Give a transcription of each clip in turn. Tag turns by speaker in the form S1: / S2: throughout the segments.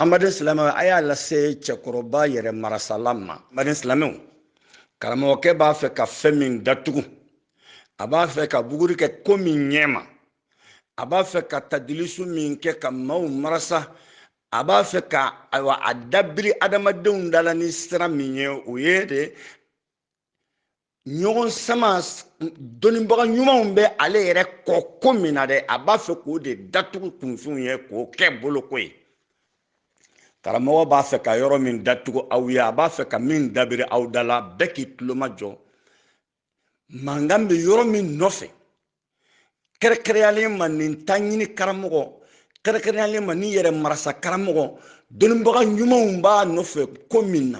S1: an baden silamɛw a y'a lase cɛkɔrɔba yɛrɛ marasala ma an baden silamɛw karamɔgɔkɛ b'a fɛ ka fɛn min datugu a b'a fɛ ka buguri kɛ ko min ɲɛ ma a b'a fɛ ka tadilisu min kɛ ka maaw marasa a b'a fɛ ka ayiwa a dabiri adamadenw da la ni sira min ye o ye de ɲɔgɔn sama dɔnnibaga ɲumanw bɛ ale yɛrɛ kɔ ko min na dɛ a b'a fɛ k'o de datugu kunfinw ye k'o kɛ bolo ko ye karamɔgɔ b'a fɛ ka yɔrɔ min datugu aw ye a b'a fɛ ka min dabiri aw da la bɛɛ k'i tulo majɔ mankan bɛ yɔrɔ min nɔfɛ kɛrɛkɛrɛnyalen ma nin taɲini karamɔgɔ kɛrɛkɛrɛnyalen ma ni yɛrɛ marasa karamɔgɔ dɔnnibaga ɲumanw b'a nɔfɛ ko min na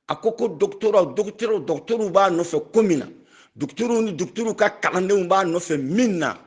S1: a ko ko dɔgɔtɔrɔw dɔgɔtɔrɔw dɔgɔtɔrɔw b'a nɔfɛ ko min na dɔgɔtɔrɔw ni dɔgɔtɔrɔw ka kalandenw b'a nɔfɛ min na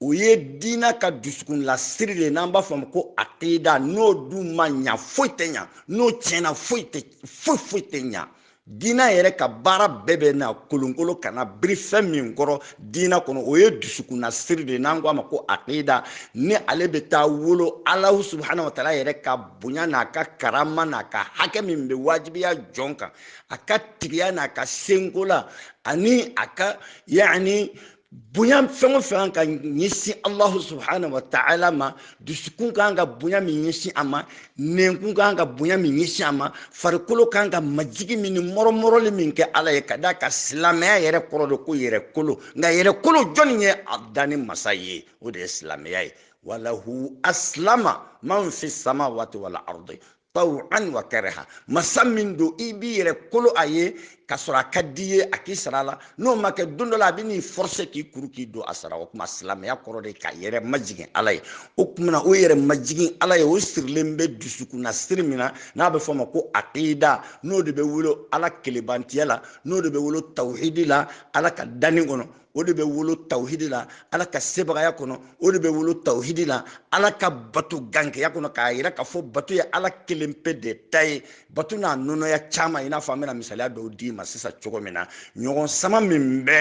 S1: o ye diina ka dusukunla siri de n'an b'a fɔ a ma ko akida n'o dun ma ɲa foyi tɛ ɲa n'o tiɲɛna foyi tɛ foyi foyi tɛ ɲa diina yɛrɛ ka baara bɛɛ bɛ na kolonkolon ka na biri fɛn min kɔrɔ diina kɔnɔ o ye dusukunna siri de n'an ko a ma ko aqida ni ale bɛ taa wolo alahu subahana wa taala yɛrɛ ka bonya n'a ka karama n'a ka hakɛ min bɛ wajibiya jɔn kan a ka tigiya n'a ka seko la ani a ka yaani bonya fɛn o fɛn kan ka ɲɛsin alahu subahana wa taala ma dusukun ka kan ka bonya min ɲɛsin a ma nɛnkun ka kan ka bonya min ɲɛsin a ma farikolo ka kan ka majigin min ni mɔrɔmɔrɔli min kɛ ala ye ka d'a kan silamɛya yɛrɛ kɔrɔ de ko yɛrɛ kolo nka yɛrɛ kolo jɔnni ye a danni masa ye o de ye silamɛya ye walahu asilama man fi samawati wal ardi taw'an wa kariha masa min don i b'i yɛrɛ kolo a ye ka sɔrɔ a ka d'i ye a k'i sago la n'o ma kɛ don dɔ la a bɛ n'i forcer k'i kuru k'i don a sara o tuma silamɛya kɔrɔ de ka yɛrɛ majigin ala ye o tuma na o yɛrɛ majigin ala ye o sirilen bɛ dusukunna siri min na n'a bɛ fɔ o ma ko aqida n'o de bɛ wolo ala kelebantiya la n'o de bɛ wolo tawhidi la ala ka danni kɔnɔ o de bɛ wolo tawhidi la ala ka sebagaya kɔnɔ o de bɛ wolo tawhidi la ala ka bato gankeya kɔnɔ k'a yira k'a fɔ bato ye ala kelen pe de ta ye bato n'a nɔnɔya caman i n'a fɔ an bɛna misaliya dɔw d'i ma sisan cogo min na ɲɔgɔn sama min bɛ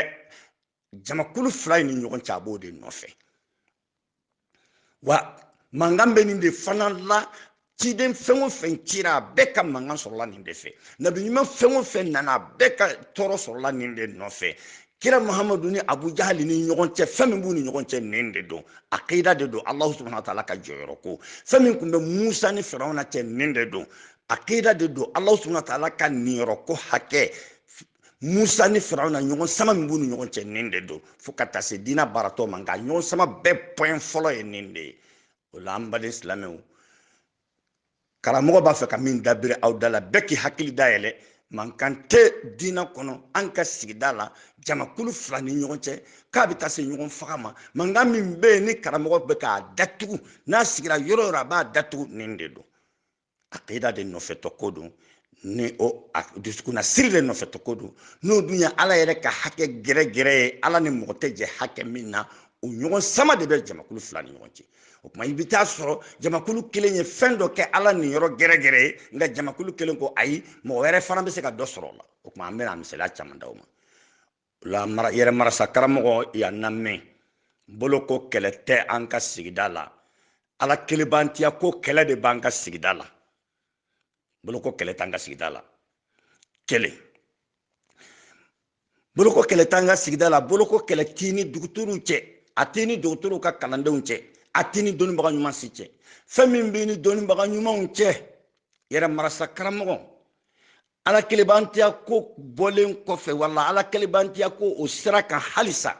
S1: jamakulu fila in ni ɲɔgɔn cɛ a b'o de nɔfɛ wa mankan bɛ nin de fana la ciden fɛn o fɛn cira a bɛɛ ka mankan sɔrɔla nin de fɛ nabi ɲuman fɛn o fɛn nana a bɛɛ ka tɔɔrɔ sɔrɔla nin de nɔfɛ kira mahamadu ni abu jahali ni ɲɔgɔn cɛ fɛn min b'u ni ɲɔgɔn cɛ nin de don akida de don alahu subahana wa taala ka jɔyɔrɔ ko fɛn min tun bɛ musa ni firawuna cɛ nin de don akida de don alahu subahana wa taala ka niyɔrɔ ko hakɛ musa ni firawuna ɲɔgɔn sama min b'u ni ɲɔgɔn cɛ nin de don fo ka taa se diinɛ baara tɔ ma nka ɲɔgɔn sama bɛɛ pɔɛn fɔlɔ ye nin de ye o la an baden silamɛw karamɔgɔ b'a fɛ ka min dabiri aw da la bɛɛ k'i hakili dayɛlɛ mankan tɛ diinɛ kɔnɔ an ka sigida la jamakulu fila ni ɲɔgɔn cɛ k'a bɛ taa se ɲɔgɔn faga ma mankan min bɛ yen ni karamɔgɔ bɛ k'a datugu n'a sigira yɔrɔ o yɔrɔ a b'a datugu nin de don akida de nɔfɛtɔ ko don ni o dusukunna siri de nɔfɛtɔ ko don n'o dun ye ala yɛrɛ ka hakɛ gɛrɛgɛrɛ ye ala ni mɔgɔ tɛ jɛ hakɛ min na o ɲɔgɔn sama de bɛ jamakulu fila ni ɲɔgɔn cɛ o tuma i bɛ taa sɔrɔ jamakulu kelen ye fɛn dɔ kɛ ala niyɔrɔ gɛrɛgɛrɛ ye nka jamakulu kelen ko ayi mɔgɔ wɛrɛ fana bɛ se ka dɔ sɔrɔ o la o tuma an bɛna misaliya caman d'aw ma la mara yɛrɛ marasa karamɔgɔ y'a namɛn boloko kɛlɛ tɛ an ka sigida la ala kelebantiya ko kɛlɛ de b'an ka sigida la boloko kɛlɛ t'an ka sigida la kelen boloko kɛlɛ t'an ka sigida la boloko kɛlɛ t'i ni dɔgɔtɔrɔw cɛ a t'i ni dɔgɔtɔrɔw ka kalandenw cɛ a t'i ni dɔnnibaga ɲuman si cɛ fɛn min b'i ni dɔnnibaga ɲumanw cɛ yɛrɛ marasa karamɔgɔ ala kelebantiya ko bɔlen kɔfɛ wala ala kelebantiya ko o sira kan halisa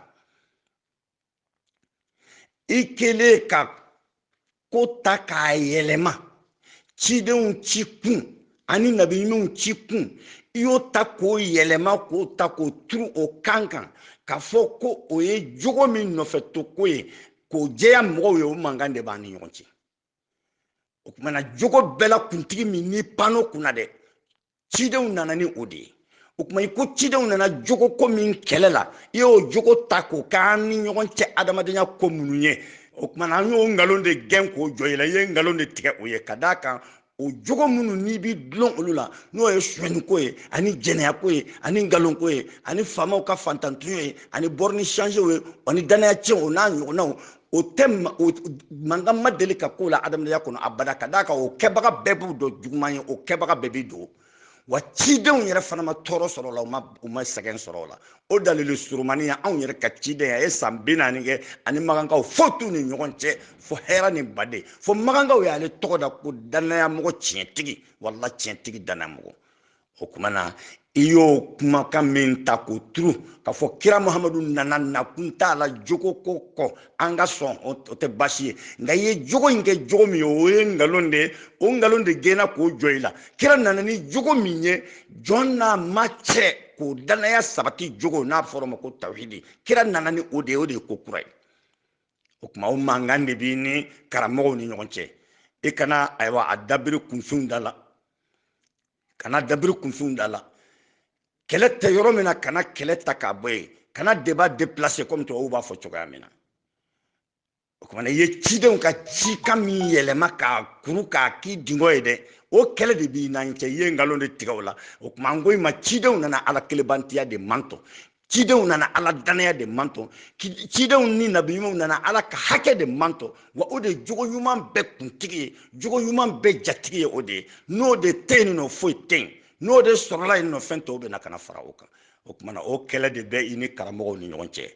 S1: i kelen ka ko ta k'a yɛlɛma cidenw ci kun ani nabiɲumanw ci kun i y'o ta k'o yɛlɛma k'o ta k'o turu o kan kan k'a fɔ ko o ye jogo min nɔfɛ to ko ye k'o jɛya mɔgɔw ye o mankan de b'an ni ɲɔgɔn cɛ o kuma na jogo bɛɛ la kuntigi min n'i pano kunna dɛ cidenw nana ni o de ye o kuma i ko cidenw nana jogo ko min kɛlɛ la i y'o jogo ta k'o k'an ni ɲɔgɔn cɛ adamadenya ko minnu ye o kuma na an y'o nkalon de gɛn k'o jɔ i la i ye nkalon de tigɛ o ye ka d'a kan o jogo minnu n'i b'i dulon olu la n'o ye suɲɛniko ye ani jɛnɛyako ye ani nkalonko ye ani faamaw ka fantantɔɲɔ ye ani bɔrɔni changew ye ani danaya tiɲɛw o n'a ɲɔgɔnnaw o tɛ mankan ma deli ka k'o la adamadenya kɔnɔ abada ka d'a kan o kɛbaga bɛɛ b'u dɔn juguman ye o kɛbaga bɛɛ b'i dogo wa cidenw yɛrɛ fana ma tɔɔrɔ sɔrɔ o la u ma u ma sɛgɛn sɔrɔ o la o dalili surumani y'anw yɛrɛ ka ciden a ye san bi naani kɛ a ni makankaw foyi t'u ni ɲɔgɔn cɛ fo hɛra ni baden fo makankaw y'ale tɔgɔ da ko dannayamɔgɔ tiɲɛtigi wala tiɲɛtigi dannayamɔgɔ o kuma na i y'o kumakan min ta k'o turu k'a fɔ kira muhamadu nana nakun t'a la jogo ko kɔ an ka sɔn o tɛ baasi ye nka i ye jogo in kɛ jogo min ye o ye nkalon de ye o nkalon de gɛnna k'o jɔ i la kira nana ni jogo min ye jɔn n'a ma cɛ k'o danaya sabati jogo n'a fɔra o ma ko tawhidi kira nana ni o de ye o de ye ko kura ye o tuma o mankan de b'i ni karamɔgɔw ni ɲɔgɔn cɛ i kana ayiwa a dabiri kunfinw da la kana dabiri kunfinw da la kɛlɛ tɛ yɔrɔ min na kana kɛlɛ ta k'a bɔ yen kana deba deplase kɔmi tubabuw b'a fɔ cogoya min na o kuma na i ye cidenw ka cikan min yɛlɛma k'a kuru k'a k'i dingɔ ye dɛ o kɛlɛ de b'i n'an cɛ i ye nkalon de tigɛ u la o kuma n ko i ma cidenw nana ala kelebantiya de mantɔ cidenw nana ala dannaya de mantɔ cidenw ni nabi ɲumanw nana ala ka hakɛ de mantɔ wa o de ye jogo ɲuman bɛɛ kuntigi ye jogo ɲuman bɛɛ jatigi ye o de ye n'o de tɛ yenninɔ foyi tɛ yen n'o de sɔrɔla yenninɔ fɛn tɔw bɛ na ka na fara o kan o tuma na o kɛlɛ de bɛ i ni karamɔgɔw ni ɲɔgɔn cɛ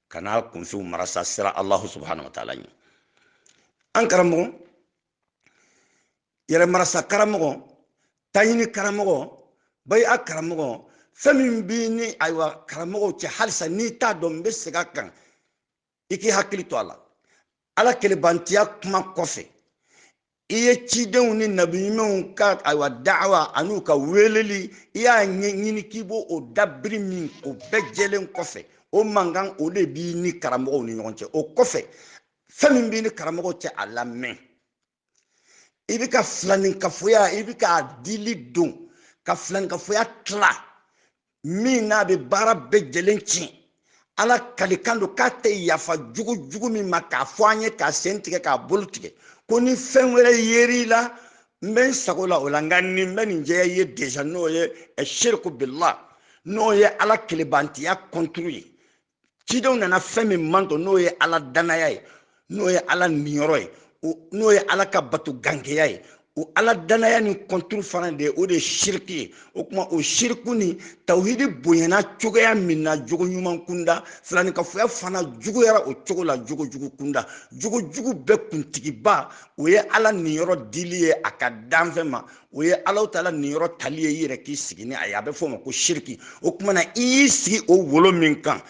S1: kana kunfinw marasa siran alahu subahana wa taala ɲɛ an karamɔgɔ yɛrɛmarasa karamɔgɔ taɲini karamɔgɔ bayi'a karamɔgɔ fɛn min b'i ni ayiwa karamɔgɔw cɛ halisa n'i t'a dɔn n bɛ segin a kan i k'i hakili to a la ala kelebantiya kuma kɔfɛ i ye cidenw ni nabiɲumanw ka ayiwa da'awa an'u ka weeleli i y'a ɲini k'i b'o dabiri min o bɛɛ jɛlen kɔfɛ o mankan o de b'i ni karamɔgɔw ni ɲɔgɔn cɛ o kɔfɛ fɛn min b'i ni karamɔgɔ cɛ a lamɛn i bɛ ka filaninkafoya i bɛ ka dili don ka filaninkafoya tila min n'a bɛ baara bɛɛ jɛlen tiɲɛ ala kalikan don k'a tɛ yafa jugu jugu min ma k'a fɔ an ye k'a sen tigɛ k'a bolo tigɛ ko ni fɛn wɛrɛ yer'i la n bɛ n sago la o la nka nin n bɛ nin jɛya i ye déjà n'o ye siriku bila n'o ye ala kelebantiya kɔnturu ye cidenw nana fɛn min mantɔ n'o ye ala dannaya ye n'o ye ala niyɔrɔ ye n'o ye ala ka bato gankeya ye o ala dannaya nin kɔnturu fana de o de ye siriki ye o tuma o siriku ni tawhidi bonyana cogoya min na jogo ɲuman kunda filaninkafoya fana juguyara o cogo la jogo jugu kunda jogo jugu bɛɛ kuntigiba o ye ala niyɔrɔ dili ye a ka danfɛn ma o ye alahu taala niyɔrɔ tali ye i yɛrɛ k'i sigi ni a ye a bɛ fɔ o ma ko siriki o tuma na i y'i sigi o wolo min kan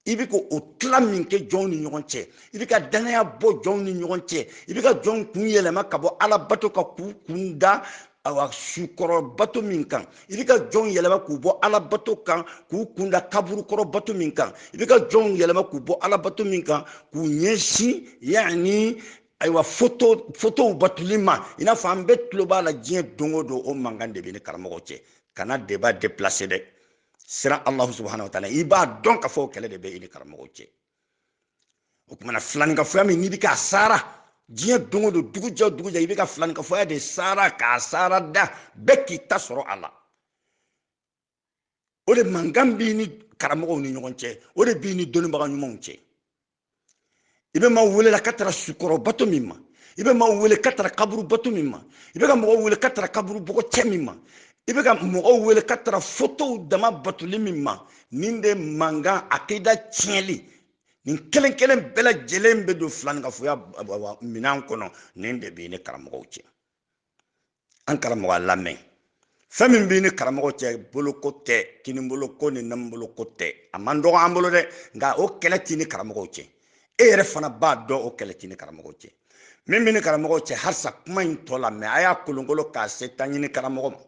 S1: i bɛ ka o tila min kɛ jɔnw ni ɲɔgɔn cɛ i bɛ ka dannaya bɔ jɔnw ni ɲɔgɔn cɛ i bɛ ka jɔnw kun yɛlɛma ka bɔ ala bato kan k'u kun da ayiwa su kɔrɔ bato min kan i bɛ ka jɔnw yɛlɛma k'u bɔ ala bato kan k'u kun da kaburu kɔrɔ bato min kan i bɛ ka jɔnw yɛlɛma k'u bɔ ala bato min kan k'u ɲɛsin yanni ayiwa foto fotow batoli ma i n'a fɔ an bɛɛ tulo b'a la diɲɛ don o don o mankan de b'i ni karamɔgɔ cɛ kana deba deplase dɛ siran alahu subahana wa taala i b'a dɔn k'a fɔ kɛlɛ de bɛ i ni karamɔgɔ cɛ o tuma na filaninkafoya min n'i bɛ k'a sara diɲɛ don o don dugu jɛ dugu jɛ i bɛ ka filaninkafoya de sara k'a sara da bɛɛ k'i ta sɔrɔ a la o de mankan b'i ni karamɔgɔw ni ɲɔgɔn cɛ o de b'i ni dɔnnibaga ɲumanw cɛ i bɛ maaw wele la ka taga sukɔrɔ bato min ma i bɛ maaw wele ka taga kaburu bato min ma i bɛ ka mɔgɔw wele ka taga kaburu bɔgɔ cɛ min ma i bɛ ka mɔgɔw wele ka taga fotow dama batoli min ma nin de mankan akida tiɲɛli nin kelen kelen bɛɛ lajɛlen bɛ don filankafoya minɛn kɔnɔ nin de b'i ni karamɔgɔw cɛ an karamɔgɔ a lamɛn fɛn min b'i ni karamɔgɔ cɛ boloko tɛ kiniboloko ni numanboloko tɛ a man dɔgɔ an bolo dɛ nka o kɛlɛ t'i ni karamɔgɔw cɛ e yɛrɛ fana b'a dɔn o kɛlɛ t'i ni karamɔgɔw cɛ min b'i ni karamɔgɔw cɛ halisa kuma in tɔ lamɛn a y'a kolonkolon k'a se taɲini karamɔgɔ ma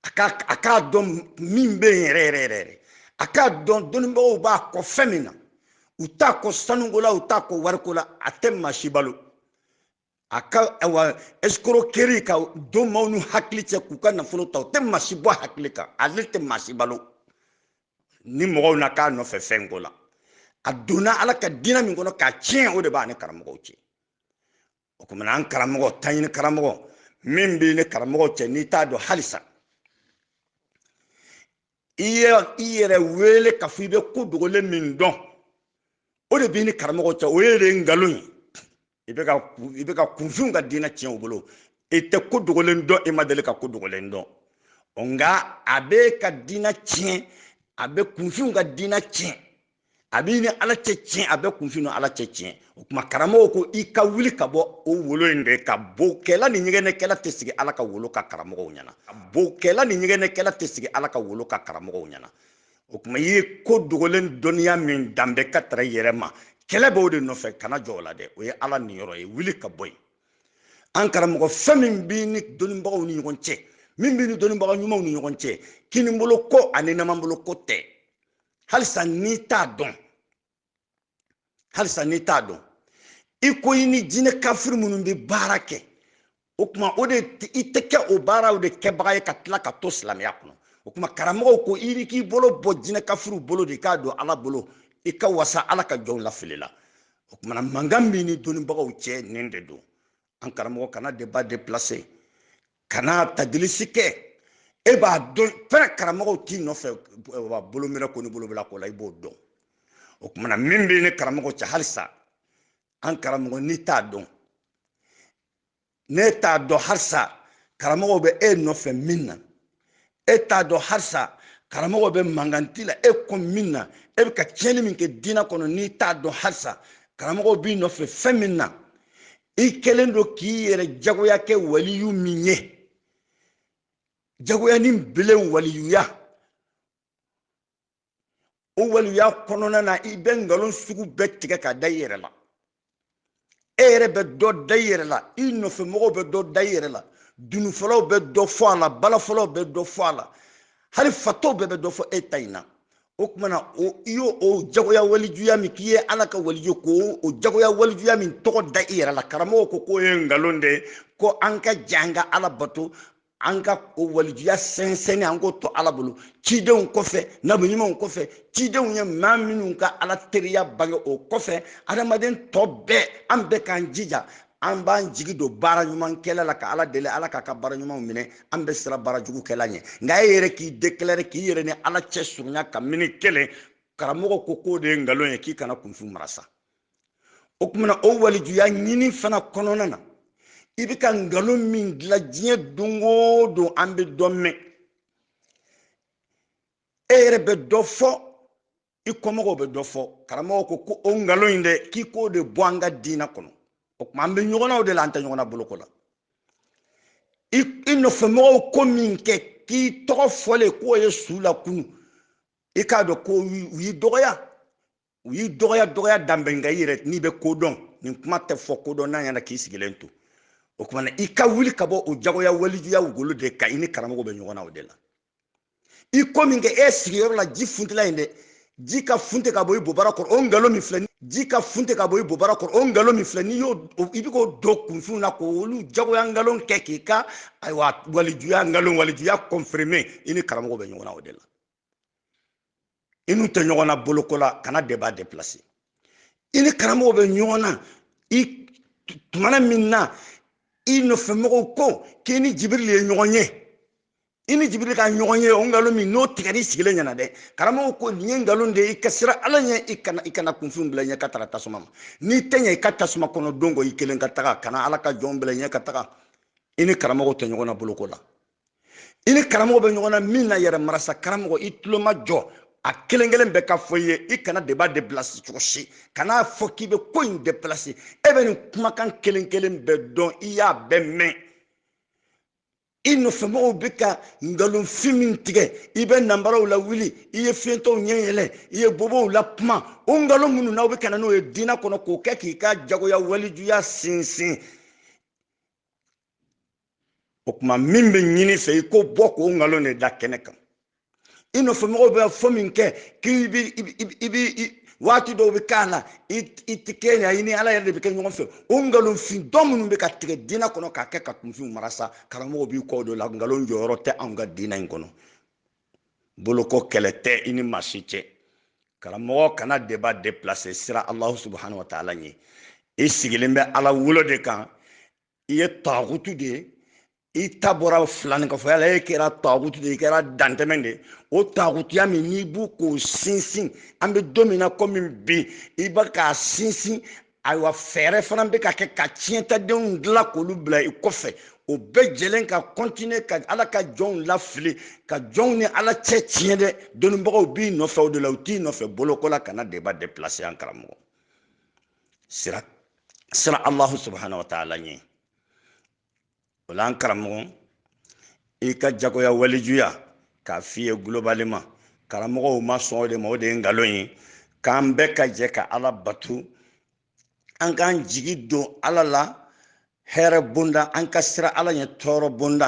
S1: a k'a dɔn min bɛ yen yɛrɛ yɛrɛ yɛrɛ a k'a dɔn dɔnnibagaw b'a kɔ fɛn min na u t'a kɔ sanuko la u t'a kɔ wariko la a tɛ maa si balo a ka awa escroquerie ka don maaw n'u hakili cɛ k'u ka nafolo ta o tɛ maa si bɔ hakili kan ale tɛ maa si balo ni mɔgɔw na k'a nɔfɛ fɛn ko la a donna ala ka diinɛ min kɔnɔ k'a tiɲɛ o de b'a ni karamɔgɔw cɛ o kuma na an karamɔgɔ taɲini karamɔgɔ min b'i ni karamɔgɔ cɛ n'i t'a dɔn halisa i ye i yɛrɛ wele k'a fɔ i bɛ ko dogolen min dɔn o de b'i ni karamɔgɔ cɛ o ye de nkalon ye i bɛ ka i bɛ ka kunfinw ka diinɛ tiɲɛ u bolo i tɛ ko dogolen dɔn i ma deli ka ko dogolen dɔn nka a bɛ ka diinɛ tiɲɛ a bɛ kunfinw ka diinɛ tiɲɛ a b'i ni ala cɛ tiɲɛ a bɛ kunfinw ni ala cɛ tiɲɛ o tuma karamɔgɔ ko i ka wuli ka bɔ o wolo in de kan bokɛla ni ɲɛgɛnɛkɛla tɛ sigi ala ka wolo kan karamɔgɔw ɲɛna ko bokɛla ni ɲɛgɛnɛkɛla tɛ sigi ala ka wolo kan karamɔgɔw ɲɛna o tuma i ye ko dogolen dɔnniya min danbe ka taga yɛrɛ ma kɛlɛ b'o de nɔfɛ kana jɔ o la dɛ o ye ala niyɔrɔ ye wuli ka bɔ yen an karamɔgɔ fɛn min b'i ni dɔnnibagaw ni ɲɔgɔn cɛ min b'i ni dɔnnibaga ɲumanw ni ɲɔgɔn cɛ kinibolo ko ani numanbolo ko tɛ halisa n'i t'a dɔn halisa n'i t'a dɔn i ko i ni jinɛ kafiri minnu bɛ baara kɛ o tuma o de i tɛ kɛ o baaraw de kɛbaga ye ka tila ka to silamɛya kɔnɔ o tuma karamɔgɔw ko i ni k'i bolo bɔ jinɛ kafiriw bolo de i k'a don ala bolo i ka wasa ala ka jɔnw lafili la o tuma na mankan b'i ni dɔnnibagaw cɛ nin de don an karamɔgɔ kana débat déplacer kana tadilisi kɛ e b'a dɔn fɛnɛ karamɔgɔw t'i nɔfɛ bolo minɛ ko ni bolo bila ko la i b'o dɔn o kuma na min b'e ni karamɔgɔ cɛ halisa an karamɔgɔ n'i t'a dɔn n'e t'a dɔn halisa karamɔgɔw bɛ e nɔfɛ min na e t'a dɔn halisa karamɔgɔ bɛ mankanti la e kɔ min na e bɛ ka tiɲɛni min kɛ diinɛ kɔnɔ n'i t'a dɔn halisa karamɔgɔ b'i nɔfɛ fɛn min na i kɛlen don k'i yɛrɛ jagoya kɛ waliyu min ye jagoya ni bele waliyuya o waliya kɔnɔna na i bɛ nkalon sugu bɛɛ tigɛ ka da i yɛrɛ la e yɛrɛ bɛ dɔ da i yɛrɛ la i nɔfɛ mɔgɔw bɛ dɔ da i yɛrɛ la dununfɔlaw bɛ dɔ fɔ a la balafɔlaw bɛ dɔ fɔ a la hali fatɔw bɛɛ bɛ dɔ fɔ e ta in na o tumana o i y'o o jagoya walijuya min k'i ye ala ka waliju ko o jagoya walijuya min tɔgɔ da i yɛrɛ la karamɔgɔ ko k'o ye nkalon de ye ko an ka jan ka ala bato an ka o walijuya sɛnsɛnni an k'o to ala bolo cidenw kɔfɛ nabi ɲumanw kɔfɛ cidenw ye maa minnu ka ala teriya bange o kɔfɛ adamaden tɔ bɛɛ an bɛɛ k'an jija an b'an jigi don baara ɲuman kɛli la ka ala deli ala k'an ka baara ɲumanw minɛ an bɛ siran baara jugu kɛli ɲɛ nka e yɛrɛ k'i deklare k'i yɛrɛ ni ala cɛ surunya ka mini kelen karamɔgɔ ko k'o de ye nkalon ye k'i kana kunfin marasa o tumana o walijuya ɲini fana kɔnɔna na i bɛ ka nkalon min dilan diɲɛ don o don an bɛ dɔ mɛn e yɛrɛ bɛ dɔ fɔ i kɔmɔgɔw bɛ dɔ fɔ karamɔgɔ ko ko o nkalon in dɛ k'i k'o de bɔ an ka diinɛ kɔnɔ o tuma an bɛ ɲɔgɔn na o de la an tɛ ɲɔgɔn na boloko la i nɔfɛmɔgɔw ko min kɛ k'i tɔgɔ fɔlen k'o ye su lakunun i k'a dɔn ko u y'i dɔgɔya u y'i dɔgɔya dɔgɔya danbɛ nka i yɛrɛ n'i bɛ ko dɔn nin kuma tɛ fɔ kodɔnna ɲɛna k'i sigilen to o tumana i ka wuli ka bɔ o jagoya walijuya golo de kan i ni karamɔgɔ bɛ ɲɔgɔn na o de la i ko min kɛ e sigiyɔrɔ la ji funtila in dɛ ji ka funti ka bɔ i bobara kɔrɔ o nkalon min filɛ ji ka funti ka bɔ i bobara kɔrɔ o nkalon min filɛ n'i y'o i bɛ k'o don kunfinw na k'olu jagoya nkalon kɛ k'i ka ayiwa walijuya nkalon walijuya kɔnfirime i ni karamɔgɔ bɛ ɲɔgɔn na o de la i n'u tɛ ɲɔgɔn na boloko la kana deba deplase i ni karamɔgɔ bɛ ɲɔgɔn na i tumana min na i nɔfɛmɔgɔw ko k'i ni jibirili ye ɲɔgɔn ye i ni jibirili ka ɲɔgɔn ye o nkalon min n'o tigɛra i sigilen ɲɛna dɛ karamɔgɔ ko nin ye nkalon de ye i ka siran ala ɲɛ i kana i kana kunfinw bila ɲɛ ka taga tasuma ma n'i tɛ ɲɛ i ka tasuma kɔnɔ don kɔ i kelen ka taga kana ala ka jɔnw bila ɲɛ ka taga i ni karamɔgɔ tɛ ɲɔgɔn na boloko la i ni karamɔgɔ bɛ ɲɔgɔn na min na yɛrɛ marasa karamɔgɔ i tulo majɔ a kelen kelen bɛɛ ka fɔ i ye i kana deba deplase cogo si kan'a fɔ k'i bɛ ko in deplase e bɛ nin kumakan kelen kelen bɛɛ dɔn i y'a bɛɛ mɛn i nɔfɛmɔgɔw bɛ ka nkalonfin min tigɛ i bɛ nanbaraw lawuli i ye fiyentɔw ɲɛ yɛlɛ i ye bobow lakuma o nkalon minnu n'aw bɛ ka na n'o ye diinɛ kɔnɔ k'o kɛ k'i ka jagoya walijuya sinsin o tuma min bɛ ɲini i fɛ i ko bɔ k'o nkalon de da kɛnɛ kan i nɔfɛ mɔgɔw b'a fɔ min kɛ k'i bi i bi waati dɔw bɛ k'a la i tɛ kɛ yan i ni ala yɛrɛ de bɛ kɛ ɲɔgɔn fɛ o nkalonfin dɔ minnu bɛ ka tigɛ diinɛ kɔnɔ k'a kɛ ka kunfinw mara sa karamɔgɔw b'i kɔ o de la nkalon jɔyɔrɔ tɛ anw ka diinɛ in kɔnɔ boloko kɛlɛ tɛ i ni maa si cɛ karamɔgɔ kana deba deplase siran alahu subahana wa taala ɲɛ i sigilen bɛ ala wolo de kan i ye tagutu de ye i ta bɔra filani kɔfɛ yala e kɛra tagutu de i kɛra dantɛmɛ de o tagutuya min n'i bɛ k'o sinsin an bɛ don min na komi bi i bɛ k'a sinsin ayiwa fɛɛrɛ fana bɛ ka kɛ ka tiɲɛtadenw dilan k'olu bila i kɔfɛ o bɛɛ jɛlen ka kɔntine ka ala ka jɔnw lafili ka jɔnw ni ala cɛ tiɲɛ dɛ dɔnnibagaw b'i nɔfɛ o de la u t'i nɔfɛ boloko la kana deba deplase an karamɔgɔ siran siran alahu subahana wa taala ɲɛ o la an karamɔgɔ i ka jagoya walejuya k'a f'i ye gulobaleman karamɔgɔw ma sɔn o de ma o de ye nkalon ye k'an bɛɛ ka jɛ ka ala bato an k'an jigi don ala la hɛrɛ bonda an ka siran ala ɲɛ tɔɔrɔ bonda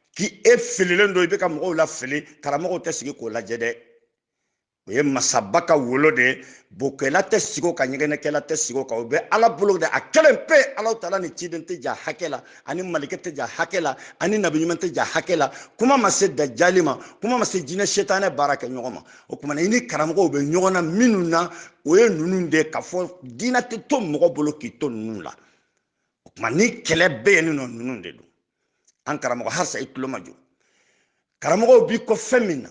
S1: k'i e fililen don i bɛ ka mɔgɔw lafili karamɔgɔw tɛ sigi k'o lajɛ dɛ o ye masaba ka wolo de ye bokɛla tɛ sigi o kan ɲɛgɛnɛkɛla tɛ sigi o kan o bɛ ala bolo de a kelen pe ala taala ni ciden tɛ jɛ hakɛ la a ni mɛlɛkɛ tɛ jɛ hakɛ la a ni nabiɲuman tɛ jɛ hakɛ la kuma ma se dajali ma kuma ma se jinɛ setanɛ baarakɛɲɔgɔn ma o tuma na i ni karamɔgɔw bɛ ɲɔgɔn na minnu na o ye ninnu de k'a fɔ diinɛ tɛ to mɔgɔ bolo k'i to ninnu la o tuma ni kɛlɛ bɛ yen nin nɔ ninnu de don an karamɔgɔ halisa i tulo majɔ karamɔgɔw b'i kɔ fɛn min na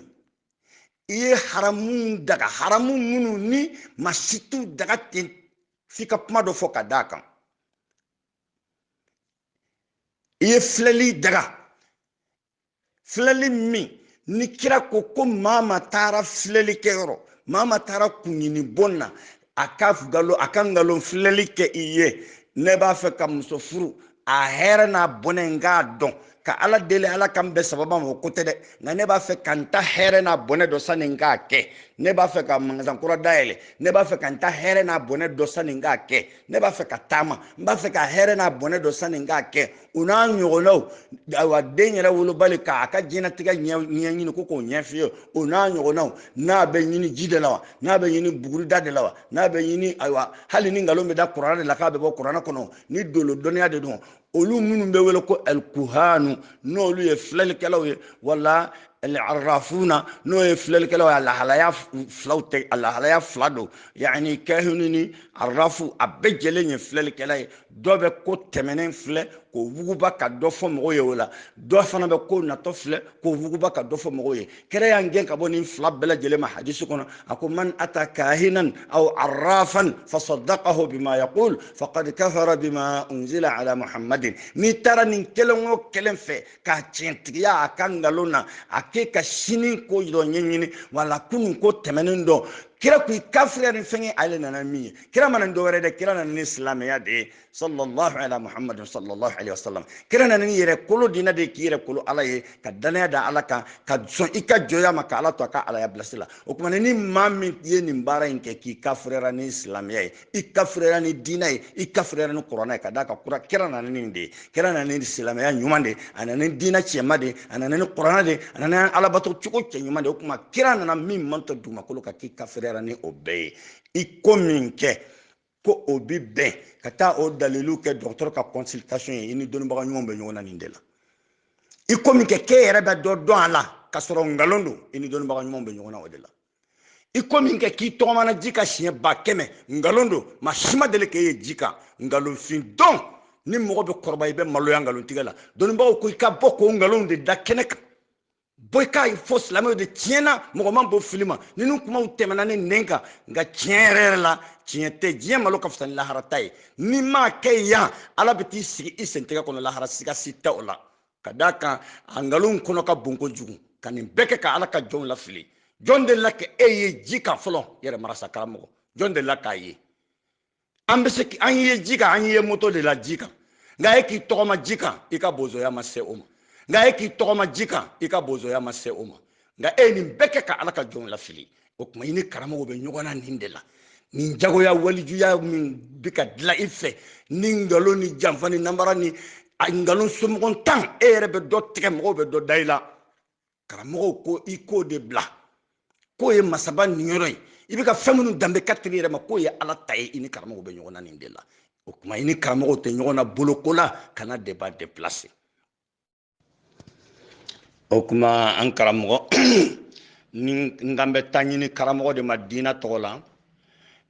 S1: i ye haramu daga haramu minnu n'i ma se k'u daga ten f'i ka kuma dɔ fɔ ka d'a kan i ye filɛli daga filɛli min ni kira ko ko maa maa taara filɛli kɛ yɔrɔ maa maa taara kunɲini bɔn na a ka galo a ka nkalon filɛli kɛ i ye ne b'a fɛ ka muso furu a hɛrɛ n'a bɔnɛ n k'a dɔn ka ala deli ala ka n bɛn sawaba ma o ko tɛ dɛ nka ne b'a fɛ ka n ta hɛrɛ n'a bɔnɛ dɔn sani n k'a kɛ ne b'a fɛ ka mangasan kura dayɛlɛ ne b'a fɛ ka n ta hɛrɛ n'a bɔnɛ dɔn sani n k'a kɛ ne b'a fɛ ka taama n b'a fɛ k'a hɛrɛ n'a bɔnɛ dɔn sani n k'a kɛ o n'a ɲɔgɔnnaw ayiwa den yɛrɛ wolobali k'a ka diɲɛnatigɛ ɲɛɲini ko k'o ɲɛfilɛ o n'a ɲɔgɔnnaw n'a bɛ ɲini ji de la wa n'a bɛ ɲini bugurida de la wa n'a bɛ ɲini ayiwa hali ni nkalon bɛ da kuranɛ de la k'a bɛ bɔ kuranɛ kɔnɔ ni dolo dɔnniya de don olu minnu bɛ wele ko alikuhanu n'olu ye filɛlikɛlaw ye wala alarafuuna n'o ye filɛlikɛlaw ye lahalaya filaw tɛ a lahalaya fila don yanni kahini ni arafu a bɛɛ jɛlen ye filɛlikɛla ye dɔ bɛ ko tɛmɛnen filɛ k'o wuguba ka dɔ fɔ mɔgɔw ye wala dɔ fana bɛ ko natɔ filɛ k'o wuguba ka dɔ fɔ mɔgɔw ye kira y'an gɛn ka bɔ nin fila bɛɛ lajɛlen ma hadisi kɔnɔ a ko man ata kahinan aw arrafan fasadaqahu bima yaqul faqad kafara bima unzila ala muhammadin n'i taara nin kelen o kelen fɛ k'a tiɲɛtigiya a ka nkalon na a k'e ka sini ko dɔ ɲɛɲini wala kunun ko tɛmɛnen dɔ kira ko i kafiriya ni fɛn ye ale nana min ye kira ma na dɔ wɛrɛ dɛ kira nana ni silamɛya de ye sallallahu ala muhammad sallallahu alaihi wasallam kira nana ni yɛrɛ kolo diina de k'i yɛrɛ kolo ala ye ka danaya da ala kan ka sɔn i ka jɔnya ma ka ala to a ka alaya pilasi la o tuma ni maa min ye nin baara in kɛ k'i kafiriyara ni silamɛya ye i kafiriyara ni diina ye i kafiriyara ni kurana ye ka d'a kan kura kira nana ni nin de ye kira nana ni silamɛya ɲuman de a nana ni diina cɛma de a nana ni kurana de a nana alabato cogo cɛɲuman de o tuma kira nana min man tɔ dugumakolo kan k'i kafiriyara ni o bɛɛ ye i ko min kɛ ko o bi bɛn ka taa o dalilu kɛ dɔgɔtɔrɔ ka consultation ye i ni dɔnnibaga ɲumanw bɛ ɲɔgɔn na nin de la i ko min kɛ k'e yɛrɛ bɛ dɔ dɔn a la ka sɔrɔ nkalon don i ni dɔnnibaga ɲumanw bɛ ɲɔgɔn na o de la i ko min kɛ k'i tɔgɔmana ji kan siɲɛ ba kɛmɛ nkalon don maa si ma deli k'e ye ji kan nkalonfin don ni mɔgɔ bɛ kɔrɔba i bɛ maloya nkalontigɛ la dɔnnibagaw ko i ka bɔ k'o nkalonw de da kɛnɛ kan bɔ i k'a ye fɔ silamɛw de tiɲɛna mɔgɔ man bon fili ma ninnu kumaw tɛmɛna ne nɛn kan nka tiɲɛ yɛrɛ yɛrɛ la tiɲɛ tɛ diɲɛ malo ka fisa ni lahara ta ye n'i m'a kɛ yan ala bɛ t'i sigi i sentigɛ kɔnɔ lahara siga si tɛ o la ka d'a kan a nkalonw kɔnɔ ka bon kojugu ka nin bɛɛ kɛ ka ala ka jɔnw lafili jɔn delila ka e ye ji kan fɔlɔ yɛrɛ marasa karamɔgɔ jɔn delila k'a ye an bɛ se an y'i ye ji kan an y'i ye moto de la ji kan nka e k'i tɔgɔma ji kan i ka bozoya ma se o ma nka e k'i tɔgɔma ji kan i ka bozoya ma se o ma nka e ye nin bɛɛ kɛ ka ala ka jɔnw lafili o tuma i ni karamɔgɔw bɛ ɲɔgɔn na nin de la nin jagoya walijuya min bɛ ka dilan i fɛ ni nkalon ni janfa ni nanbara ni a nkalon somɔgɔntan e yɛrɛ bɛ dɔ tigɛ mɔgɔw bɛ dɔ da i la karamɔgɔw ko i k'o de bila k'o ye masaba niyɔrɔ ye i bɛ ka fɛn minnu danbe ka teli yɛrɛ ma k'o ye ala ta ye i ni karamɔgɔw bɛ ɲɔgɔn na nin de la o tuma i ni karamɔgɔw tɛ ɲɔgɔn na boloko la kana débat déplacer o tuma an karamɔgɔ ni n kan bɛ taɲini karamɔgɔ de ma diinɛ tɔgɔ la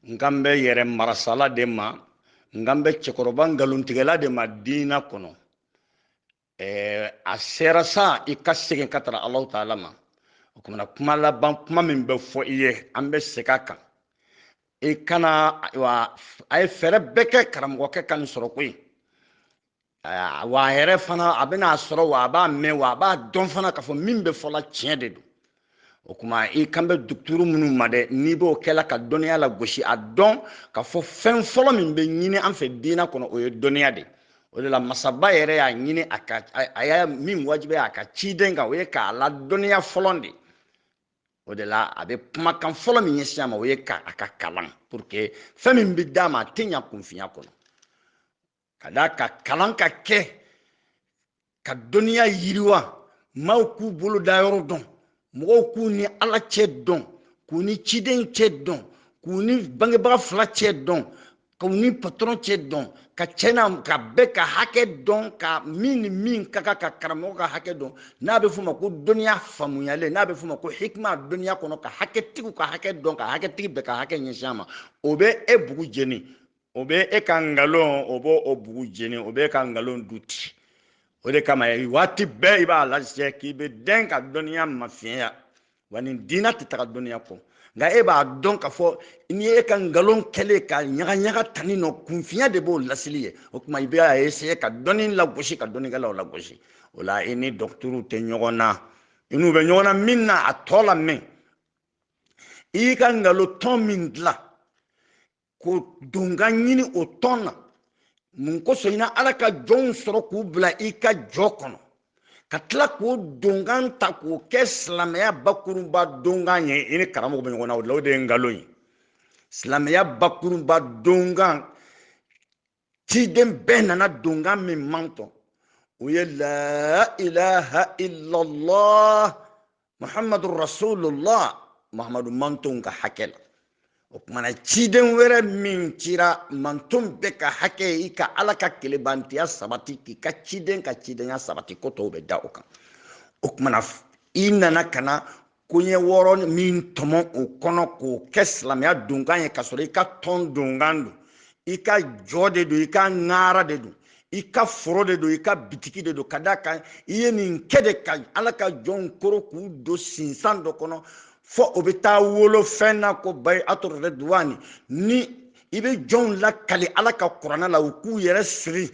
S1: n kan bɛ yɛrɛ marasala de ma n kan bɛ cɛkɔrɔba nkalontigɛla de ma diinɛ kɔnɔ ɛɛ a sera sa i ka segin ka taa alahu taala ma o kumana kuma laban kuma min bɛ fɔ i ye an bɛ segin a kan i kana wa a ye fɛɛrɛ bɛɛ kɛ karamɔgɔkɛ ka nin sɔrɔ koyi wa a yɛrɛ fana a bɛna a sɔrɔ wa a b'a mɛn wa a b'a dɔn fana k'a fɔ min bɛ fɔla tiɲɛ de don o kuma i kan bɛ dɔgɔtɔrɔ minnu ma dɛ n'i b'o kɛla ka dɔnniya lagosi a dɔn ka fɔ fɛn fɔlɔ min bɛ ɲini an fɛ diinɛ kɔnɔ o ye dɔnniya de o de la masaba yɛrɛ y'a ɲini a ka a y'a min wajibiya a ka ciden kan o ye k'a ladɔnniya fɔlɔ de o de la a bɛ kumakan fɔlɔ min ɲɛsin a ma o ye ko a ka kalan pour que fɛn min bɛ d'a ma a tɛ ɲa kunfinya kɔnɔ ka d'a kan kalan ka kɛ ka dɔnniya yiriwa maaw k'u bolodayɔrɔ dɔn mɔgɔw k'u ni ala cɛ dɔn k'u ni ciden cɛ dɔn k'u ni bangebaga fila cɛ dɔn k'u ni patɔrɔn cɛ dɔn ka cɛna ka bɛɛ ka hakɛ dɔn ka min ni min ka kan ka karamɔgɔ ka hakɛ dɔn n'a bɛ f'o ma ko dɔnniya faamuyalen n'a bɛ f'o ma ko hikima dɔnniya kɔnɔ ka hakɛtigiw ka hakɛ dɔn ka hakɛtigi bɛɛ ka hakɛ ɲɛsin a ma o bɛ e bugu jeni o bɛ e ka nkalon o b'o o bugu jeni o bɛ e ka nkalon du ti o de kama waati bɛɛ i b'a lajɛ k'i bɛ dɛn ka dɔnniya mafiɲɛya wa nin diinɛ tɛ taga dɔnniya kɔ nka e b'a dɔn k'a fɔ n'i ye e ka nkalon kɛlen ka ɲagaɲaga tani nɔ kunfinya de b'o lasili ye o tuma i bɛ a essayer ka dɔnni lagosi ka dɔnnikɛlaw lagosi o la i ni dɔgɔtɔrɔw tɛ ɲɔgɔn na i n'u bɛ ɲɔgɔn na min na a tɔ lamɛn i y'i ka nkalon tɔn min dilan ka donkan ɲini o tɔn na mun kosɔn i na ala ka jɔnw sɔrɔ k'u bila i ka jɔ kɔnɔ ka tila k'o donkan ta k'o kɛ silamɛya bakurunba donkan ye i ni karamɔgɔ bɛ ɲɔgɔn na o la o de ye nkalon ye silamɛya bakurunba donkan ciden bɛɛ nana donkan min manton o ye la ilaha illallah muhammadu rasulullah muhammadu mantonw ka hakɛ la o kuma na ciden wɛrɛ min cira manton bɛ ka hakɛ i ka ala ka kelebantiya sabati k'i ka ciden ka cidenya sabati ko tɔw bɛ da o kan o kuma na i nana ka na koɲɛ wɔɔrɔ min tɔmɔ o kɔnɔ k'o kɛ silamɛya donkan ye k'a sɔrɔ i ka tɔn donkan don i ka jɔ de don i ka ŋaara de don i ka foro de don i ka bitiki de don ka d'a kan i ye nin kɛ de ka ala ka jɔnw koro k'u don sinsan dɔ kɔnɔ fo o bɛ taa wolo fɛn na ko bayiatu riduwani ni i bɛ jɔnw lakali ala ka kurana la u k'u yɛrɛ siri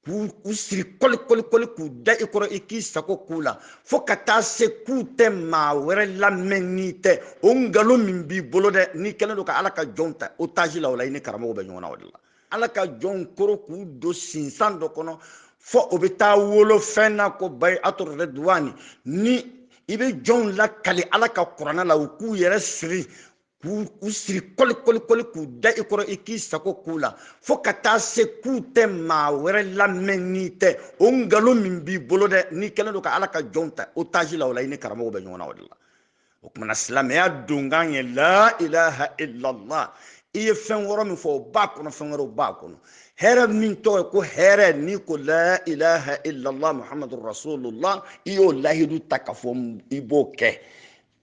S1: k'u siri kɔlikɔlikɔli k'u da i kɔrɔ i k'i sago k'u la fo ka taa se k'u tɛ maa wɛrɛ lamɛn n'i tɛ o nkalon min b'i bolo dɛ n'i kɛlen don ka ala ka jɔnw ta otage la o la i ni karamɔgɔ bɛ ɲɔgɔn na o de la ala ka jɔnw koro k'u don sinsan dɔ kɔnɔ fo o bɛ taa wolo fɛn na ko bayiatu riduwani ni i bɛ jɔnw lakali ala ka kurana la u k'u yɛrɛ siri k'u siri kɔli kɔli kɔli k'u da i kɔrɔ i k'i sago k'u la fo ka taa se k'u tɛ maa wɛrɛ lamɛn n'i tɛ o nkalon min b'i bolo dɛ n'i kɛlen don ka ala ka jɔnw ta otaji la o la i ni karamɔgɔw bɛ ɲɔgɔn na o de la o kuma na silamɛya donkan ye la ilaha illallah i ye fɛn wɔɔrɔ min fɔ o b'a kɔnɔ fɛn wɛrɛw b'a kɔnɔ hɛrɛ min tɔgɔ ye ko hɛrɛ n'i ko la ilaha illallah muhammadu rasulullah i y'o lahidu ta k'a fɔ i b'o kɛ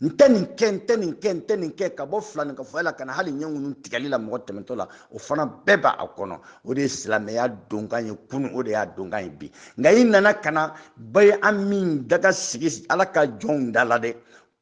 S1: n tɛ nin kɛ n tɛ nin kɛ n tɛ nin kɛ ka bɔ filankafoya la ka na hali ɲɛ ŋunu tigɛli la mɔgɔ tɛmɛtɔ la o fana bɛɛ b'a a kɔnɔ o de ye silamɛya donkan ye kunu o de y'a donkan ye bi nka i nana ka na bayi a min daga sigi ala ka jɔnw da la dɛ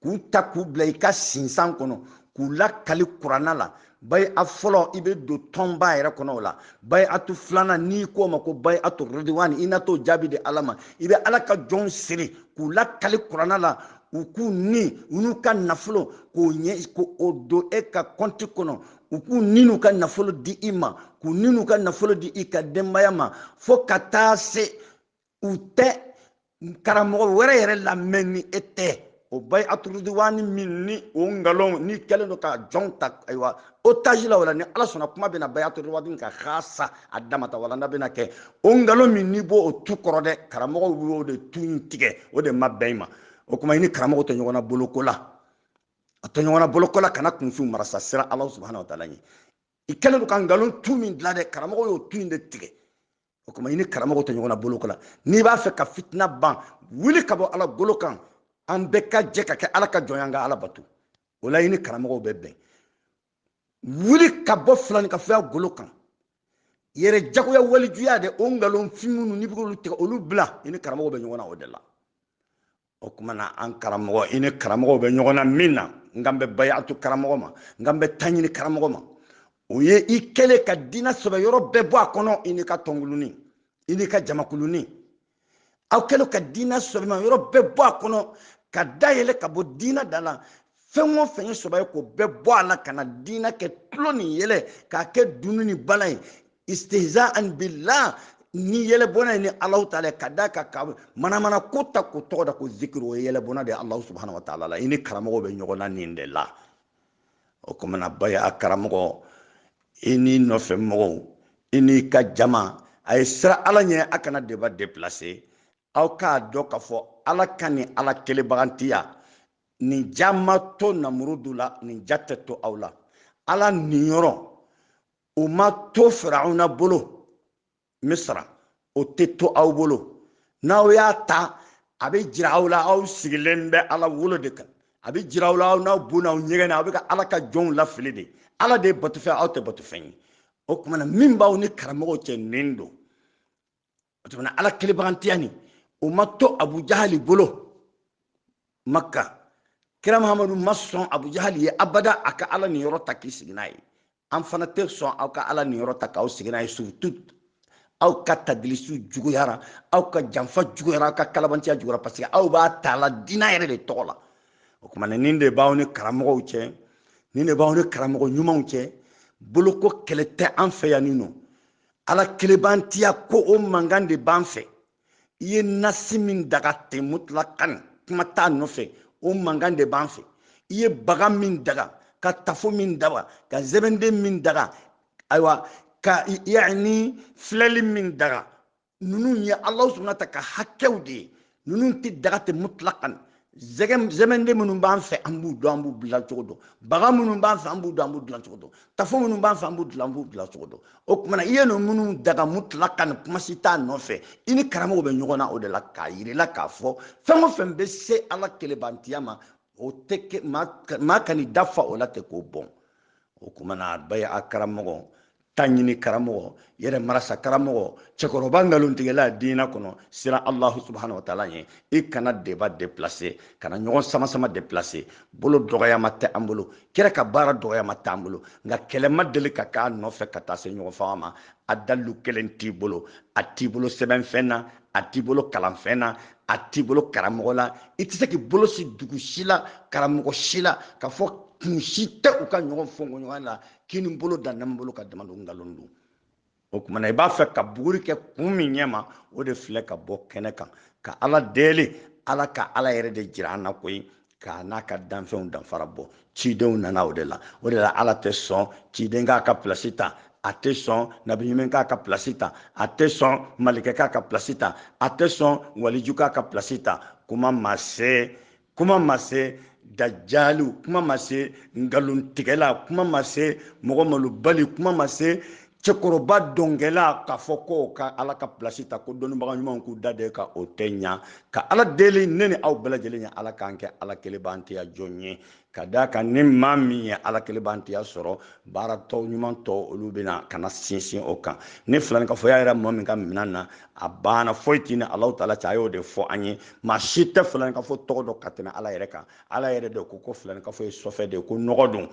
S1: k'u ta k'u bila i ka sinsan kɔnɔ k'u lakali kuranɛ la bayi a fɔlɔ i bɛ don tɔnba yɛrɛ kɔnɔ o la bayiatu filanan n'i k'o ma ko bayiatu rodiwani i na t'o jaabi di ala ma i bɛ ala ka jɔnw siri k'u lakali kuranɛ la u k'u ni u n'u ka nafolo k'o ɲɛ k'o don e ka kɔnti kɔnɔ u k'u ni n'u ka nafolo di i ma k'u ni n'u ka nafolo di i ka denbaya ma fo ka taa se u tɛ karamɔgɔ wɛrɛ yɛrɛ lamɛn ni e tɛ o bayiatu rudiwani min ni o nkalon n'i kɛlen don ka jɔnw ta ayiwa otaji la o la ni ala sɔnna kuma bɛna bayiatu rudiwani kan xaasa a dama ta walanda bɛna kɛ o nkalon min n'i b'o o tu kɔrɔ dɛ karamɔgɔw y'o de tu in tigɛ o de ma bɛn i ma o kuma i ni karamɔgɔ tɛ ɲɔgɔn na bolo ko la a tɛ ɲɔgɔn na bolo ko la kana kunfinw marasa siran ala subahana wa taala ɲɛ i kɛlen don ka nkalon tu min dilan dɛ karamɔgɔ y'o tu in de tigɛ o kuma i ni karamɔgɔ tɛ ɲɔgɔn na bolo ko la n'i b'a fɛ ka fitina ban wuli ka bɔ ala golo kan an bɛɛ ka jɛ ka kɛ ala ka jɔn ye an ka ala bato o la i ni karamɔgɔw bɛ bɛn wuli ka bɔ filankafoya golo kan yɛrɛjagoya walijuya dɛ o nkalon fin minnu n'i bɛ k'olu tigɛ olu bila i ni karamɔgɔ bɛ ɲɔgɔn na o de la o kuma na an karamɔgɔ i ni karamɔgɔw bɛ ɲɔgɔn na min na n kan bɛ bayatu karamɔgɔ ma n kan bɛ taɲini karamɔgɔ ma o ye i kɛlen ka diinɛ sɛbɛ yɔrɔ bɛɛ bɔ a kɔnɔ i n'i ka tɔnkulunin i n'i ka jamakulunin aw kɛlen ka diinɛ sɛbɛma yɔrɔ bɛɛ bɔ a kɔnɔ ka dayɛlɛ ka bɔ diinɛ da la fɛn o fɛn ye sɔbɛ ye k'o bɛɛ bɔ a la ka na diinɛ kɛ tulon ni yɛlɛ k'a kɛ dunun ni bala ye istihza an billah ni yɛlɛbɔnna ye ni alahu taala ye ka da ka ka manamana ko ta k'o tɔgɔ da ko zikiri o ye yɛlɛbɔnna de ye alahu subahana wa taala la i ni karamɔgɔ bɛ ɲɔgɔn na nin de la o kuma na bayi a karamɔgɔ i n'i nɔfɛ mɔgɔw i n'i ka jama a ye siran ala ɲɛ a kana deba deplase aw k'a dɔn k'a fɔ ala ka ni ala kelebagantiya nin ja ma to namurudu la nin ja tɛ to aw la ala niyɔrɔ o ma to firawuna bolo misra o tɛ to aw bolo n'aw y'a ta a bɛ jira aw la aw sigilen bɛ ala wolo de kan a bɛ jira aw la aw n'aw bo n'aw ɲɛgɛnɛ aw bɛ ka ala ka jɔnw lafili de ala de ye batofɛn aw tɛ batofɛn ye o tuma na min b'aw ni karamɔgɔw cɛ nin don o tuma ala kelebagantiya nin o ma to abu jahali bolo makka kira mahamadu ma sɔn abu jahali ye abada a ka ala niyɔrɔ ta k'i sigi n'a ye an fana tɛ sɔn aw ka ala niyɔrɔ ta k'aw sigi n'a ye surtout aw ka tadilisi juguyara aw ka janfa juguyara aw ka kalabantiya juguyara parce que aw b'a ta la dina yɛrɛ de tɔgɔ la o tuma na nin de b'aw ni karamɔgɔw cɛ nin de b'aw ni karamɔgɔ ɲumanw cɛ boloko kɛlɛ tɛ an fɛ yan nin nɔ ala kelebantiya ko o mankan de b'an fɛ i ye nasi min daga ten mutulakan kuma t'a nɔfɛ o mankan de b'an fɛ i ye baga min daga ka tafo min daga ka zɛbɛnden min daga ayiwa ka yani filɛli min daga ninnu ye ala subahana ta ka hakɛw de ye ninnu tɛ daga ten mutlakan zɛbɛnden minnu b'an fɛ an b'u dɔn an b'u dilan cogo dɔn baga minnu b'an fɛ an b'u dɔn an b'u dilan cogo dɔn tafo minnu b'an fɛ an b'u dilan an b'u dilan cogo dɔn o kumana i ye ninnu minnu daga mutlakan kuma si t'a nɔfɛ i ni karamɔgɔ bɛ ɲɔgɔn na o de la k'a yirila k'a fɔ fɛn o fɛn bɛ se ala kelebantiya ma o tɛ maa kan'i da fa o la ten k'o bɔn o kumana bɛɛ a karamɔgɔ ta ɲini karamɔgɔ yɛrɛ marasa karamɔgɔ cɛkɔrɔba nkalontigɛla diinɛ kɔnɔ siran alahu subahana wa taala ye i kana débat déplacer kana ɲɔgɔn samasama déplacer bolo dɔgɔyama tɛ an bolo kira ka baara dɔgɔyama tɛ an bolo nka kɛlɛ ma deli ka k'a nɔfɛ ka taa se ɲɔgɔn faga ma a dalu kelen t'i bolo a t'i bolo sɛbɛnfɛn na a t'i bolo kalanfɛn na a t'i bolo karamɔgɔ la i tɛ se k'i bolo sin dugu si la karamɔgɔ si la k'a fɔ kun si tɛ u ka ɲɔgɔn fɔɲɔgɔnkɔ la kinin bolo da numan bolo kan dama don nkalon don o kumana i b'a fɛ ka buguri kɛ kun min ɲɛ ma o de filɛ k'a bɔ kɛnɛ kan ka ala deli ala ka ala yɛrɛ de jira an na koyi k'a n'a ka danfɛnw danfara bɔ cidenw nana o de la o de la ala tɛ sɔn ciden k'a ka pilasi ta a tɛ sɔn nabiɲuman k'a ka pilasi ta a tɛ sɔn malikɛ k'a ka pilasi ta a tɛ sɔn waliju k'a ka pilasi ta kuma ma se kuma ma se dajaliw kuma ma se nkalontigɛla kuma ma se mɔgɔ malobali kuma ma se cɛkɔrɔba dɔnkɛla k'a fɔ ko ka ala ka pilasi ta ko dɔnnibaga ɲumanw k'u da de ka o tɛ ɲa ka ala deli ne ni aw bɛɛ lajɛlen ye ala k'an kɛ ala kelebantiya jɔn ye k'a da kan ni maa min ye ala kelebantiya sɔrɔ baara tɔw ɲuman tɔw olu bɛna ka na sinsin o kan ni filankafoya yera mɔgɔ min ka minan na a banna foyi tɛ ni alahu taala cɛ a y'o de fɔ an ye maa si tɛ filankafo tɔgɔ dɔn ka tɛmɛ ala yɛrɛ kan ala yɛrɛ de ko ko filankafo ye sɔfɛ de ye ko nɔgɔ don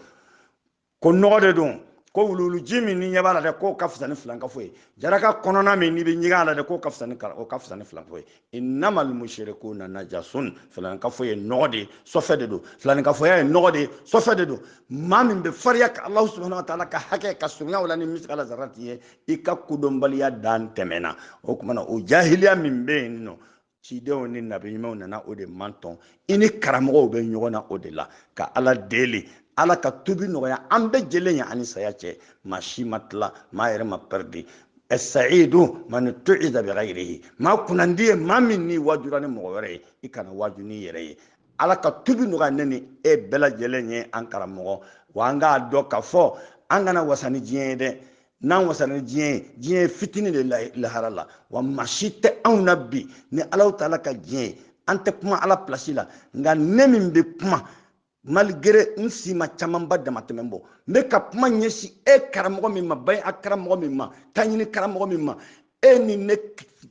S1: ko nɔgɔ de don ko wuluwuluji min n'i ɲɛ b'a la dɛ k'o ka fisa ni filankafo ye jaraka kɔnɔna min n'i bɛ ɲɛgɛn a la dɛ k'o ka fisa ni o ka fisa ni filankafo ye innama almusirikuna najasun filankafo ye nɔgɔ de ye sɔfɛ de don filankafoya ye nɔgɔ de ye sɔfɛ de don maa min bɛ fariya ka alahu subahana wa taala ka hakɛ ka surunya o la ni misigala zarati ye i ka kodɔnbaliya dan tɛmɛna o kumana o jahiliya min bɛ yen nɔ cidenw ni nabi ɲumanw nana o de mantɔn i ni karamɔgɔw bɛ ɲɔgɔn na o de la ka ala deli ala ka tubi nɔgɔya an bɛɛ jɛlen ye an ni saya cɛ maa si ma tila maa yɛrɛ ma pɛridi sayidu man wuiza bi ghayrihi maa kunnandi ye maa min n'i waajura ni mɔgɔ wɛrɛ ye i kana waaju n'i yɛrɛ ye ala ka tubi nɔgɔya ne ni e bɛɛ lajɛlen ye an karamɔgɔ wa an k'a dɔn k'a fɔ an kana wasa ni diɲɛ ye dɛ n'an wasa ni diɲɛ ye diɲɛ ye fitini de lahara la wa maa si tɛ anw na bi ni alahu taala ka diɲɛ ye an tɛ kuma ala pilasi la nka ne min bɛ kuma malgré n si ma camanba damatɛmɛ bɔ n bɛ ka kuma ɲɛsin e karamɔgɔ min ma baɲi a karamɔgɔ min ma taɲini karamɔgɔ min ma e ni ne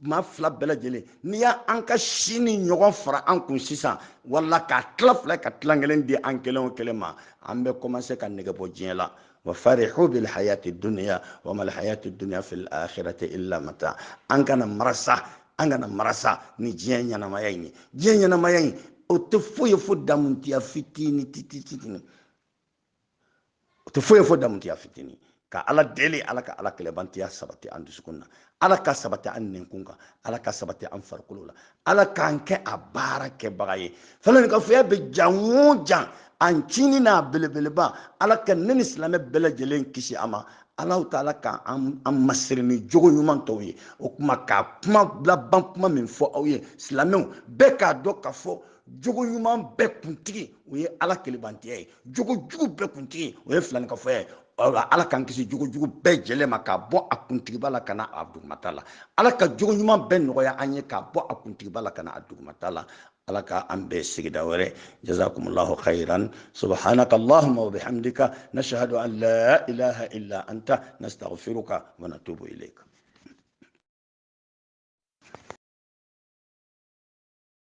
S1: maa fila bɛɛ lajɛlen n'i y'a an ka si nin ɲɔgɔn fara an kun sisan wala k'a tila fila ka tilan kelen di an kelen o kelen ma an bɛ kɔmanse ka nɛgɛ bɔ diɲɛ la wa farihu bil hayati dunya wa mal hayati dunya fil akhirati illa mata an kana marasa an kana marasa ni diɲɛ ɲɛnamaya in ye diɲɛ ɲɛnamaya in o tɛ foyi ye fo damutiya fitini tititini o tɛ foyi ye fo damutiya fitini ka ala deli ala ka ala kelenbatoya sabati an dusukun na ala k'a sabati an nɛnkun kan ala k'a sabati an farikolo la ala k'an kɛ a baara kɛbaga ye filankafoya bɛ jan o jan a ncinin n'a belebeleba ala ka ne ni silamɛ bɛɛ lajɛlen kisi a ma alahu taala ka an masiri ni jogo ɲuman tɔw ye o kuma ka kuma laban kuma min fɔ aw ye silamɛw bɛɛ k'a dɔn k'a fɔ jogo ɲuman bɛɛ kuntigi o ye ala kelenbatoya ye jogo jugu bɛɛ kuntigi o ye filankafoya ye ala k'an kisi jogo jugu bɛɛ jɛlen ma k'a bɔ a kuntigiba la ka na a dugumata la ala ka jogo ɲuman bɛɛ nɔgɔya an ye k'a bɔ a kuntigiba la ka na a dugumata la ala ka an bɛn sigida wɛrɛ jazakumullahu khairan subhanaka allahumma wa bihamdika nashhadu an la ilaha illa anta nastaghfiruka wa natubu ilayka